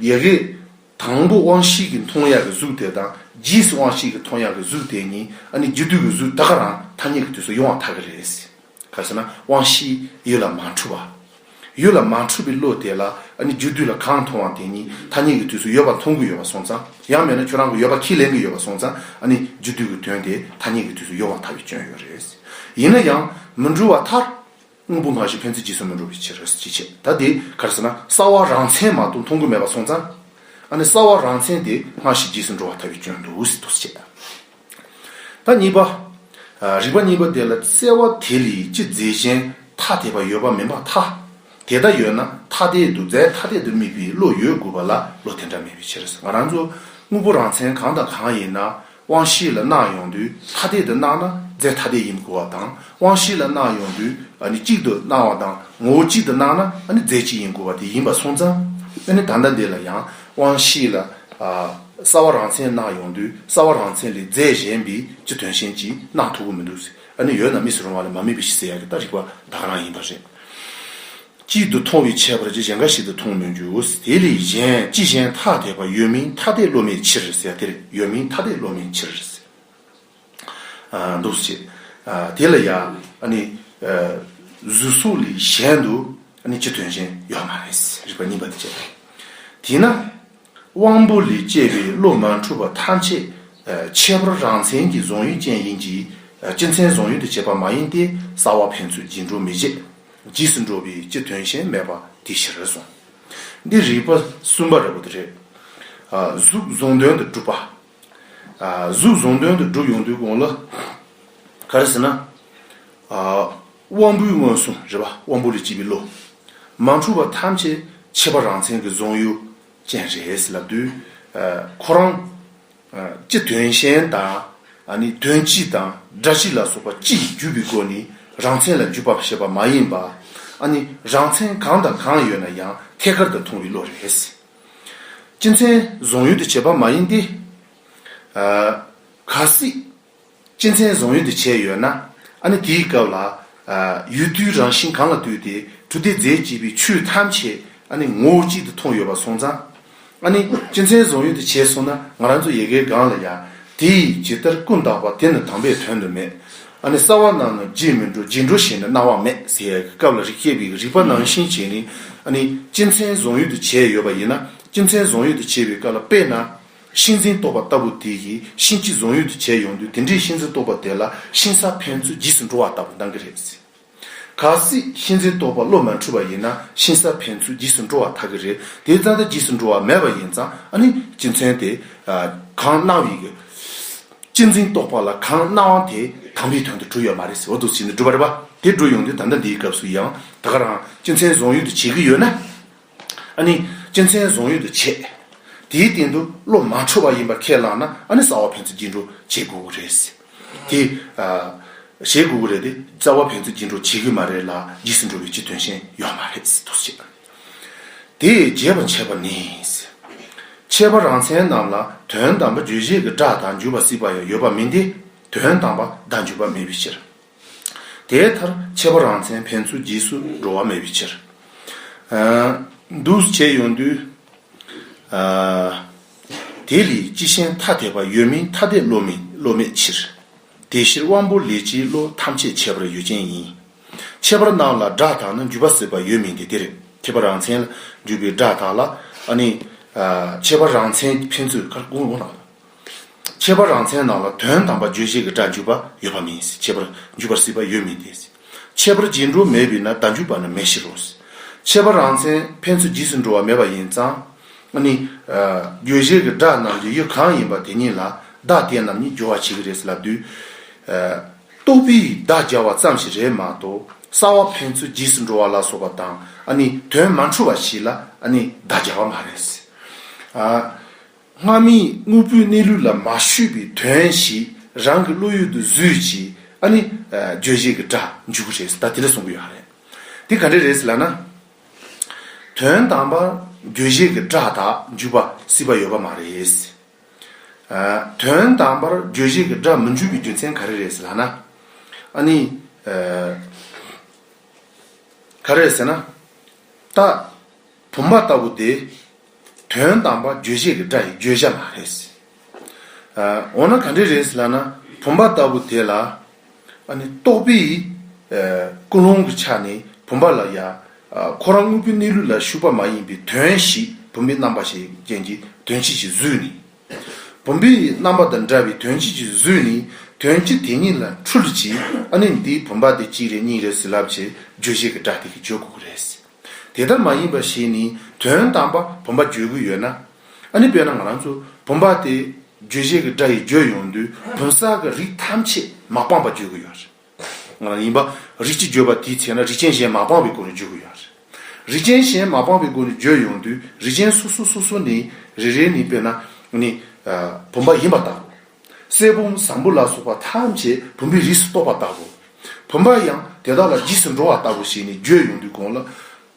ཡི་གེ། དང་པོ་དབང་ཤེས་ཀྱི་མཐོང་ཡ་གི་གཟུགས་དེ་དང་རྗེས་སུ་དབང་ཤེས་ཀྱི་མཐོང་ཡ་གི་གཟུགས་དེ་གཉིས་ཨཱ་ནི་རྗེས་སྡུད་ཀྱི་གཟུགས་ད་ག་རང་ཐ་སྙད་ཀྱི་དུས་སུ་ཡོང་བ་ཐག་གི་རེད། ག་རེ་ཟེར་ན་དབང་ཤེས་ཡུལ་ལ་མ་འཁྲུལ་བ། ཡུལ་ལ་མ་འཁྲུལ་བའི་བློ་དེ་ལ་ཨཱ་ནི་རྗེས་སྡུད་ལ་གང་མཐོང་བ་དེ་གཉིས་ཐ་སྙད་ཀྱི་དུས་སུ་ཡོད་པ་མཐོང་གི་ཡོད་པ་སོང་ཙང་ཡང་མེད་ན་ཁྱོད་རང་གི་ཡོད་པ་ཁས་ལེན་གི་ཡོད་པ་སོང་ཙང་ཨཱ་ནི་རྗེས་སྡུད་ཀྱི་དོན་དེ་ཐ་སྙད་ཀྱི་དུས་སུ་ཡོང་བ་ཐག་གི་སྐྱོན་ཡོད་རེད། ཡིན་ན་ཡང་མི་འཁྲུལ་བ་མཐར་དངོས་པོ་འགའ་ཞིག་ཕན་ཚུན་གྱིས་སོན་མི་འགྲོ་བའི་ཕྱིར་རོ་ཞེས་འཆད་ད་དེ་གར་ཟེར་ན་གསར་བ་རང་མཚན་མ་གཏོགས་མཐོང་གོ་མེད་པ་སོང་ཙང་ཨ་ནི་གསར་བ་རང་མཚན་དེ་སྔ་ཕྱི་གྱིས་སུ་འགྲོ་བ་ཐ་བའི་སྐྱོན་དུ་ཟེར་དུ་བཅད་ད་གཉིས་པ། རིགས་པ་གཉིས་པ་དེ་ལ་གསལ་བ་དེ་ལས་ཅི་རྫས་གཞན་ཐ་དད་པ་ཡོད་པ་མིན་པ་ཐ་དད་ད་ཡོད་ན་ཐ་དད་དུ་རྫས་ཐ་དད་དུ་དམིགས་པའི་བློ་ཡོད་དགོས་པ་ལ་བློ་དེ་འདྲ་མེད་པའི་ཕྱིར་ང་རང་ཚོ་དངོས་པོ་རང་མཚན་གང་དང་གང་ཡིན་ན་དབང་བཞི་ལ་གནག་ཡོང་དུས་ཐ་དད་དུ་གནག་ན་རྫས་ཐ་དད་ཡིན་དགོས་པ་དང། དབང་བཞི་ལ་གནག་ཡོང་དུས་གཅིག་ཏུ་གནག་བ་དང་ངོ་བོ་གཅིག་ཏུ་གནག་ན་རྫས་གཅིག་ཡིན་དགོས་པ་དེ་ཡིན་པར་སོང་ཙང། ད་ལྟ་འདི་ལ་ཡང་དབང་བཞི་ལ་སྲ་བ་རང་མཚན་གནག་ཡོང་དུས་སྲ་བ་རང་མཚན་ལས་རྫས་གཞན་པའི་སྤྱི་དོན་གཞན་གྱིས་གནག་ཐུབ་ཀྱི་མི་འདུག་ཟེར། ཡོད་ན་མིས་རུང་བ་ལས་མ་མིན་པའི་ཞེས་ཟེར་ཡག་གི་ལྟ་རིགས་པ་དག་རང་ཡིན་པ་རེད། གཅིག་ཏུ་མཐོང་བའི་ཁྱད་པར་གྱིས་གཞན་འགའ་ཞིག་ཏུ་མཐོང་མི་འགྱུར། དེ་ལས་གཞན་ཅི་གཞན་ཐ་དད་པ་ཡོད་མིན་ཐ་དད་བློ་མེད་ཕྱིར་ཟེར་དེར་ཡོད་མིན་ཐ་དད་བློ་མེད་ཕྱིར་ཟེར། འདུ་བྱེད་དེ་ལ་ཡང། གཟུགས་སོགས་ལས་གཞན་དུ་ནི་སྤྱི་དོན་ཅན་ཡོད་མ་རེད། རིགས་པ་གཉིས་པ་དེ་བྱས། དེས་ན། དབང་པོ་ལས་སྐྱེས་པའི་བློ་མ་འཁྲུལ་པ་ཐམས་ཅད་ཁྱད་པར་རང་མཚན་གྱི་བཟུང་ཡུལ་ཅན་ཡིན་གྱི། སྤྱི་མཚན་བཟུང་ཡུལ་དུ་བྱེད་པ་མ་ཡིན་ཏེ་ས་བ་ཕན་ཚུན་སྦྱིན་འགྲོ་མི་བྱེད། འཇིགས་སུ་འགྲོ་བའི་སྤྱི་དོན་གཞན་མེད་པ་དེ་ཤེས་རེ་ཟུང། འདི་རིགས་པ་གསུམ་པ་རེད། གཟུགས་བཟུང་དོན་དུ་གྲུབ་པ། གཟུགས་བཟུང་དོན་དུ་བསྒྲུབ་ཡོང་དུས་དགོངས་ལ། ག་རེ་ཟེར་ན། དབང་པོའི་མངོན་སུམ་རེ་བ་དབང་པོ་ལས་སྐྱེས་པའི་བློ། མ་འཁྲུལ་བ་ཐམས་ཅད་ཁྱད་པར་རང་མཚན་གྱི་བཟུང་ཡུལ་ཅན་རེད་ལབ་དུས། ཁོ་རང། སྤྱི་དོན་གཞན་དང། དོན་སྤྱི་དང་སྒྲ་སྤྱི་ལ་སོགས་པ་སྤྱི་ཡི་བརྒྱུད་པའི་སྒོ་ནས་རང་མཚན་ལ་འཇུག་པར་བཤད་པ་མ་ཡིན་པ། རང་མཚན་གང་དང་གང་ཡོད་ན་ཡང་ཐད་ཀར་དུ་མཐོང་བའི་བློ་རེད། སྤྱི་མཚན་བཟུང་ཡུལ་དུ་བྱེད་པ་མ་ཡིན་ཏེ། གལ་སྲིད་སྤྱི་མཚན་བཟུང་ཡུལ་དུ་བྱས་ཡོད་ན། ཨ་ནི་དེའི་སྐབས་ལ། ཡུལ་དུའི་རང་བཞིན་གང་ལ་བཏུད་དེ་གྲུ་དེ་རྫས་བསྐྱེད་པའི་ཆོས་ཐམས་ཅད་ཨ་ནི་ངོ་བོ་གཅིག་ཏུ་མཐོང་ཡོད་པར་སོང་ཙང། ཨ་ནི་སྤྱི་མཚན་བཟུང་ཡུལ་དུ་བྱས་སོང་ན་ང་རང་ཚོ་ཡེ་གེའི་སྒང་ལ་ཡང་དེས་ཇི་ལྟར་ཀུན་བརྟགས་པ་དེ་ནི་དམ་པའི་དོན་དུ་མེད་ཨ་ནི་གསང་བ་རྣམས་ནི་རྗེས་མི་འགྲོ་རྗེས་འགྲོ་ཞེས་ནི་སྣང་བ་མེད་ཟེར་ཡ་གི་སྐབས་ལ་རིགས་སྐྱེ་བའི་རིགས་པ་ནང་བཞིན་བྱས་ནི་ཨ་ནི་སྤྱི་མཚན་བཟུང་ཡུལ་དུ་བྱས་ཡོད་པ་ཡིན་ན་སྤྱི་མཚན་བཟུང་ཡུལ་དུ་བྱས་པའི་སྐབས་ལ་དཔེར་ན། ཤིང་འཛིན་རྟོག་པ་ལྟ་བུ་དེ་ཡི་ཤིང་སྤྱི་བཟུང་ཡུལ་དུ་བྱས་ཡོང་དུས་དེ་འདྲའི་ཤིང་འཛིན་རྟོག་པ་དེ་ལ་ཤིང་ས་ཕན་ཚུན་རྗེས་སུ་འགྲོ་བ་ལྟ་བུ་འདང་གི་རེད། གལ་སྲིད་གཤིན་རྗེ་ལྟོ་བ་བློ་མ་འཁྲུལ་བ་ཡིན་ན་གཤིན་ས་ཕན་ཚུན་འཇིགས་སུ་འགྲོ་བ་ཐག་གི་རེད་དེའི་རྩ་མདའ་འཇིགས་སུ་འགྲོ་བ་མེད་པ་ཡིན་ཙང་ཨ་ནི་སྤྱི་མཚན་དེ་གང་གནང་བ་ཡིན་གྱི། གཅེས་འཛིན་རྟོགས་པ་ལ་གང་གནང་བ་དེ་དམ་པའི་དོན་དུ་གྲུབ་ཡོད་མ་རེད་ཟེར་བ་འདུག་བྱས་ནས་གྲུབ་པ་རེད་པ་དེ་འགྲུབ་ཡོང་དུས་ད་ལྟ་འདིའི་སྐབས་སུ་ཡང་ད་ག་རང་སྤྱི་མཚན་བཟང་ཡུལ་དུ་བྱེད་ཀྱི་ཡོད་ན། ཨ་ནི། སྤྱི་མཚན་བཟུང་ཡུལ་དུ་བྱས། དེའི་སྟེང་དུ་བློ་མ་འཁྲུལ་བ་ཡིན་པར་ཁས་བླངས་ན་ཨ་ནི་གསང་བ་ཕན་ཚུན་སྐྱིད་འགྲོ་བྱེད་དགོས་ཀྱི་རེད། དེ། བྱེད་དགོས་ཀྱི་རེད་དེ། རྩ་བ་ཕན་ཚུན་སྐྱིད་འགྲོ་བྱེད་ཀྱི་མ་རེད་ལ་འཇིགས་སུ་འགྲོ་བའི་སྤྱི་དོན་གཞན་ཡོད་མ་རེད་ཟེར་དུས་བྱས། དེ་རྒྱས་པར་འཆད་པ་ནི། འཆད་པ་རང་མཚན་རྣམས་ལ་དོན་དམ་པ་བརྗོད་བྱེད་ཀྱི་སྒྲ་དང་འཇུག་པ་སྲིད་པ་ཡང་ཡོད་པ་མིན་ཏེ། དོན་དམ་པ་བརྡ་འཇུག་པ་མེད་པའི་ཕྱིར། དེའི་མཐར་འཆད་པ་རང་མཚན་ཕན་ཚུན་རྗེས་སུ་འགྲོ་བ་མེད་པའི་ཕྱིར། འདུ་བྱེད་ཡོངས་འདུའི། དེ་ལས་སྤྱི་ཤན་ཐ་དད་པ་ཡོད་མིན་ཐ་དད་བློ་མེད་ཕྱིར། དེ་ཕྱིར་དབང་པོ་ལས་སྤྱིའི་བློ་ཐམས་ཅད་ཁྱད་པར་ཡོད་ཅན་ཡིན། ཁྱད་པར་རྣམས་ལ་སྒྲ་དག་ན་འཇུག་པ་སྲིད་པ་ཡོད་མིན་ཏེ་འདིར་ཁྱད་པར་རང་མཚན་ལ་འཇུག་པའི་སྒྲ་དག་ལ། ཁྱད་པར་རང་མཚན་ཕན་ཚུན། ཁྱད་པར་རང་མཚན་ནང་ལ་དོན་དམ་པ་རྗོད་བྱེད་ཀྱི་སྒྲ་འཇུག་པ་ཡོད་པ་མིན་སྲིད་ཁྱད་པར་འཇུག་པར་སྲིད་པ་ཡོད་མིན་དེ་སྲིད་ཁྱད་པར་རྗེས་འགྲོ་མེད་པས་ན་སྒྲ་འཇུག་པ་ནི་མེད་ཕྱིར་རོ། ཁྱད་པར་རང་མཚན་ཕན་ཚུན་རྗེས་སུ་འགྲོ་བ་མེད་པ་ཡིན་ཙང། ནི། རྗོད་བྱེད་ཀྱི་སྒྲ་རྣམས་ཀྱི་ཡུལ་གང་ཡིན་པ་དེ་ཉིད་ལ་བདག་དེ་རྣམས་ཉིད་སྦྱོར་བར་བྱེད་ཀྱི་རེད་ལབ་དུས། རྟོག་པས་བདག་སྦྱར་བ་ཙམ་ཞིག་རེད་མ་གཏོགས་ས་བ་ཕན་ཚུན་རྗེས་སུ་འགྲོ་བ་ལ་སོགས་པ་དང་ནི་དོན་མ་འཁྲུལ་བ་ཞིག་ལ་ནི་བདག་སྦྱར་བ་མ་རེད། སྔ་མིའི་དངོས་པོའི་གནས་ལུས་ལ་མ་ཞུས་པའི་དོན་ཞིག་རང་གི་བློ་ཡུལ་དུ་བཟོས་ཀྱིས་ཨ་ནི་བརྗོད་བྱེད་ཀྱི་སྒྲ་འཇུག་གི་རེད་ད་དེ་ལས་གསུང་གི་ཡོད་རེད། དེ་ག་འདྲས་རེད་ཟེར་ལ་ན། དོན་དམ་པར་བརྗོད་བྱེད་ཀྱི་སྒྲ་དག་འཇུག་པ་སྲིད་པ་ཡོད་པ་མ་རེད། དོན་དམ་པར་བརྗོད་བྱེད་ཀྱི་སྒྲ་མི་འཇུག་པའི་རྒྱུ་མཚན་ག་རེ་རེད་ཟེར་ལ་ན། ཨ་ནི། ག་རེ་རེད་ཟེར་ན། ད། བུམ་པ་ལྟ་བུ་དེ། དོན་དམ་པ་རྗོད་བྱེད་ཀྱི་སྒྲ་ཡི་བརྗོད་བྱ་མ་རེད། འོ་ན་ག་འདྲས་རེད་ལབ་ན་བུམ་པ་ལྟ་བུ་དེ་ལ། རྟོག་པའི་ཀུན་སློང་གི་ཆ་ནས་བུམ་པ་ལ་ཡང། ཁོ་རང་དངོས་པོའི་གནས་ལུགས་ལ་ཞུགས་པ་མ་ཡིན་པའི་དོན་ཞིག་བུམ་པའི་རྣམ་པ་ཞེས་རྐྱེན་གྱི་དོན་སྤྱི་གཅིག་བཟོས་ནས། བུམ་པའི་རྣམ་པ་དང་འདྲ་བའི་དོན་སྤྱི་གཅིག་བཟོས་ནས་དོན་སྤྱི་དེ་ཉིད་ལ་འཁྲུལ་གྱིས་ཨ་ནི་འདིའི་བུམ་པ་དེ་གཅིག་རེད་གཉིས་རེད་ཟེར་ལབ་ཆེད་རྗོད་བྱེད་ཀྱི་སྒྲ་དེ་གིས་བརྗོད་དགོས་ཀྱི་རེད། དེ་ལྟར་མ་ཡིན་པ་ཞིག་ནི་དོན་དམ་པ་བུམ་པ་བརྗོད་ཀྱི་ཡོད་ན། ཨ་ནི་དཔེར་ན་ང་རང་ཚོ་བུམ་པ་དེ་རྗོད་བྱེད་ཀྱི་སྒྲ་ཡིས་བརྗོད་ཡོང་དུས་བུམ་གསར་གྱི་རིགས་ཐམས་ཅད་མ་སྤངས་པ་བརྗོད་ཀྱི་ཡོད་རེད། ཡིན་པ། རིགས་གཅིག་བརྗོད་པ་དེའི་ཚེ་ན་རིགས་ཅན་གཞན་མ་སྤངས་པའི་སྒོ་ནས་བརྗོད་ཀྱི་ཡོད་རེད། རིགས་ཅན་གཞན་མ་སྤངས་པའི་སྒོ་ནས་བརྗོད་ཡོང་དུས་རིགས་ཅན་སོ་སོ་སོ་སོ་ནི་རེ་རེ་ནི་དཔེར་ན་ནི་བུམ་པ་ཡིན་པ་ལྟ་བུ། གསེར་བུམ་བཟང་པོ་ལ་སོགས་པ་ཐམས་ཅད་བུམ་པའི་རིས་སུ་གཏོགས་པ་ལྟ་བུ། བུམ་པ་ཡང་དེ་དག་ལ་རྗེས་སུ་འགྲོ་བ་ལྟ་བུ་ཞིག་ནི་བརྗོད་ཡོང་དུས་དགོངས་ལ།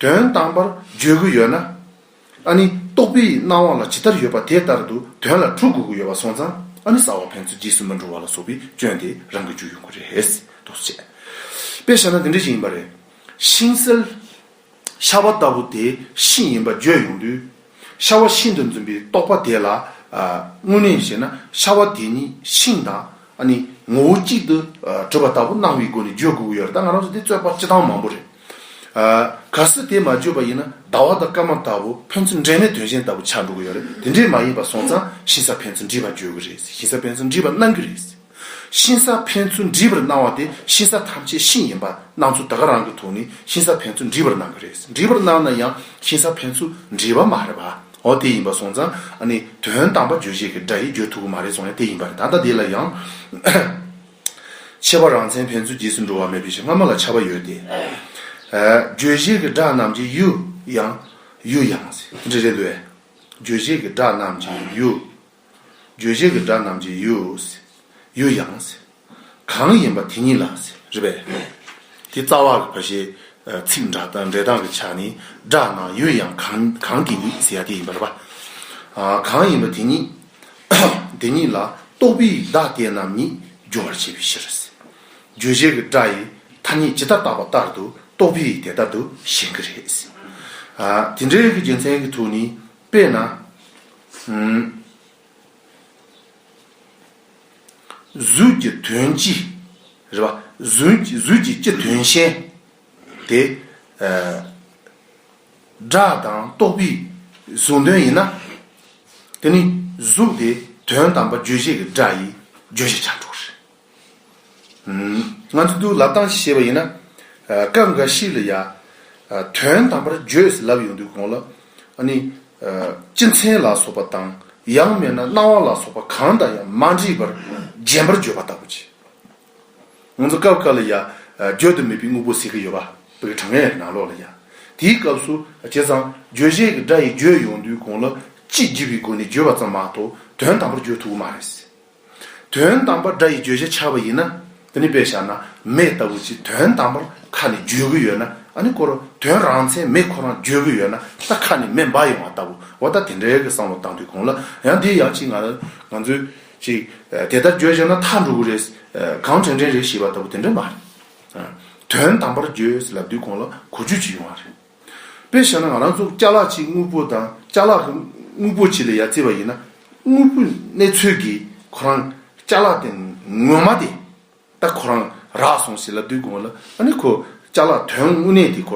དོན་དམ་པར་བརྗོད་དགོས་ཡོད་ན། ཨ་ནི་རྟོགས་པའི་སྣང་བ་ལ་ཇི་ལྟར་ཡོད་པ་དེ་ལྟར་དུ་དོན་ལ་གྲུབ་དགོས་ཀྱི་ཡོད་པ་སོང་ཙང་ཨ་ནི་ས་བ་ཕན་ཚུན་རྗེས་སུ་མི་འགྲོ་བ་ལ་སོགས་པའི་སྐྱོན་དེ་རང་གི་རྒྱུ་ཡོད་དགོས་རེད། དུ་བྱས། དཔེ་བཞག་ན་འདི་འདྲ་ཞིག་ཡིན་པ་རེད། ཤིང་གསལ། ཤ་བ་ལྟ་བུ་དེ་ཤིང་ཡིན་པ་བརྗོད་ཡོང་དུས། ཤ་བ་ཤིན་ཏུ་འཛིན་པའི་རྟོག་པ་དེ་ལ། དངོས་གནས་བཤད་ན་ཤ་བ་དེ་ཉིད་ཤིང་དང། ངོ་བོ་གཅིག་ཏུ་གྲུབ་པ་ལྟ་བུ་སྣང་བའི་སྒོ་ནས་བརྗོད་དགོས་ཀྱི་ཡོད་རེད་ད་ང་རང་ཚོ་དེ་རྩོད་པ་སྤྱི་སྟངས་མང་པོ་རེད། གལ་སྲིད་དེ་མ་བརྗོད་པ་ཡིན་ན་ཟླ་བ་དང་སྐར་མ་ལྟ་བུ་ཕན་ཚུན་འབྲེལ་མེད་དོན་གཞན་ལྟ་བུ་ཆགས་འགྲོ་གི་ཡོད་རེད་དེ་འདྲས་མ་ཡིན་པ་སོང་ཙང་ཤིང་སཱ་ཕན་ཚུན་འདྲིས་པ་བརྗོད་ཀྱི་རེད་ཤིང་སཱ་ཕན་ཚུན་འདྲིས་པ་གནང་གི་རེད། གཤིན་ས་ཕན་ཚུན་འདྲིས་པར་སྣང་བ་དེ་གཤིན་ས་ཐམས་ཅད་གཤིན་ཡིན་པར་སྣང་ཚུལ་ད་ག་རང་གི་ཐུགས་ནི་གཤིན་ས་ཕན་ཚུན་འདྲིས་པར་སྣང་གི་རེད་འདྲིས་པར་སྣང་ན་ཡང་གཤིན་ས་ཕན་ཚུ་འདྲིས་པ་མ་རེད་པ་འོ་དེ་ཡིན་པ་སོང་ཙང་ཨ་ནི་དོན་དམ་པ་བརྗོད་བྱེད་ཀྱི་སྒྲ་ཡིས་བརྗོད་ཐུབ་ཀྱི་མ་རེད་སོང་ཡང་དེ་ཡིན་པ་རེད་ད་ལྟ་དེ་ལ་ཡང་ཁྱད་པར་རང་མཚན་ཕན་ཚུན་རྗེས་སུ་འགྲོ་བ་མེད་པའི་ཕྱིར་སྔ་མ་ལ་ཁྱབ་པ་ཡོད་དེ། བརྗོད་བྱེད་ཀྱི་སྒྲ་རྣམས་ཀྱི་ཡུ་ཡང། ཡུ་ཡང། འདྲི་རེད་འདུག་བས། བརྗོད་བྱེད་ཀྱི་སྒྲ་རྣམས་ཀྱི་ཡུ། རྗོད་བྱེད་ཀྱི་སྒྲ་རྣམས་ཀྱི་ཡུལ། ཡུལ་ཡང། གང་ཡིན་པ་དེ་ཉིད་ལ། རེད་པས། དེ་རྩ་བ་ལ་བ་ཞེས། ཚིག་འདྲ་སྟངས་གི་ཆ་ནི་སྒྲ་རྣམས་ཡུལ་ཡང་གང་གི་ཉིད་ཟེར་ཡ་དེ་ཡིན་པར་བ། གང་ཡིན་པ་དེ་ཉིད། དེ་ཉིད་ལ་རྟོག་པའི་བརྡ་དེ་རྣམས་ཉིད་སྦྱོར་བར་བྱེད་པའི་ཕྱིར། རྗོད་བྱེད་ཀྱི་སྒྲ་ཡི་ཐ་སྙད་ཇི་ལྟར་བཏགས་པ་ལྟར་དུ་རྟོག་པའི་དེ་ལྟར་དུ་ཞེན་གྱི་རེད། དེ་འདྲའི་རྒྱུ་མཚན་གྱི་ཐུགས་ནི། དཔེར་ན། གཟུགས་ཀྱི་དོན་སྤྱི། རེ་བ། གཟུགས་ཀྱི་སྤྱི་དོན་ཤེས། དེ། སྒྲ་དང་རྟོག་པའི་གཟུང་དོན་ཡིན་ན། དེ་ནི་གཟུགས་དེ་དོན་དམ་པ་བརྗོད་བྱེད་ཀྱི་སྒྲ་ཡིས་བརྗོད་བྱ་ཆ་འགྲོ་བ་རེད། ང་ཚོ་དུ་ལབ་སྟངས་ཤེས་པ་ཡིན་ན། སྐབས་འགའ་ཞིག་ལ་ཡང། དོན་དམ་པར་བརྗོད་ཟེར་ལབ་ཡོང་དུས་གོང་ལ། སྤྱི་མཚན་ལ་སོགས་པ་དང། ཡང་མེད་ན་སྣང་བ་ལ་སོགས་པ་གང་དང་ཡང་མ་འདྲིས་པར་རྗེན་པར་བརྗོད་པ་ལྟ་བུ་བྱེད། ང་ཚོ་སྐབས་འགའ་ལ་ཡང། བརྗོད་དུ་མེད་པའི་དངོས་པོ་ཟེར་གྱི་ཡོད། བོད་ཀྱི་དྲང་ངེས་ནང་ལོགས་ལ་ཡང། དེའི་སྐབས་སུ་བྱས་ཙང་བརྗོད་བྱེད་ཀྱི་སྒྲ་ཡིས་བརྗོད་ཡོང་དུས་གོང་ལ། སྤྱི་བརྗོད་པའི་སྒོ་ནས་བརྗོད་པ་ཙམ་མ་གཏོགས་དོན་དམ་པར་བརྗོད་ཐུབ་ཀྱི་མ་རེད། དོན་དམ་པར་སྒྲ་ཡི་བརྗོད་བྱ་འཆར་བ་ཡིན་ན། དེ་ནི་དཔེར་བཞག་ན་མེ་ལྟ་བུ་ཅིག་དོན་དམ་པར་ཁ་ནས་བརྗོད་ཀྱི་ཡོད་ན་ཨ་ནི་ཁོ་རང་དོན་རང་མཚན་མེད་ཁོ་རང་བརྗོད་ཀྱི་ཡོད་ན་ད་ཁ་ནས་མེ་འབར་ཡོང་བ་ལྟ་བུ་འོ་ད་དེ་འདྲའི་གི་བསམ་བློ་བཏང་དུས་གོང་ལ་ཡང་འདི་ཡང་ཅིག་ང་ང་ཚོས་ཅིག་དེ་ལྟར་བརྗོད་བྱས་ན་མཐའ་འགྲོ་གི་རེད། གང་དྲན་དྲན་རེད་ཞེས་པ་ལྟ་བུ་དེ་འདྲ་མ་རེད། དོན་དམ་པར་བརྗོད་ལབ་དུས་གོང་ལ་གོ་རྒྱུ་ཅིག་ཡོང་བ་རེད། དཔེར་བཞག་ན་ང་རང་ཚོ་སྐྱག་ལག་གཅིག་དངུལ་ཕོར་དང་སྐྱག་ལག་གི་དངུལ་ཕོར་གཅིག་ལ་ཡར་བརྩིས་པ་ཡིན་ན། དངུལ་ཕོར་གནས་ཚུལ་གྱིས་ཁོ་རང་སྐྱག་ལག་དེ་ངོ་མ་དེ་ད་ཁོ་རང་རག་སོང་ཟེར་ལབ་སྡོད་དགོས་ལ་ཨ་ནི་ཁོ་སྐྱག་ལག་དོན་དངོས་གནས་དེ་ཁོ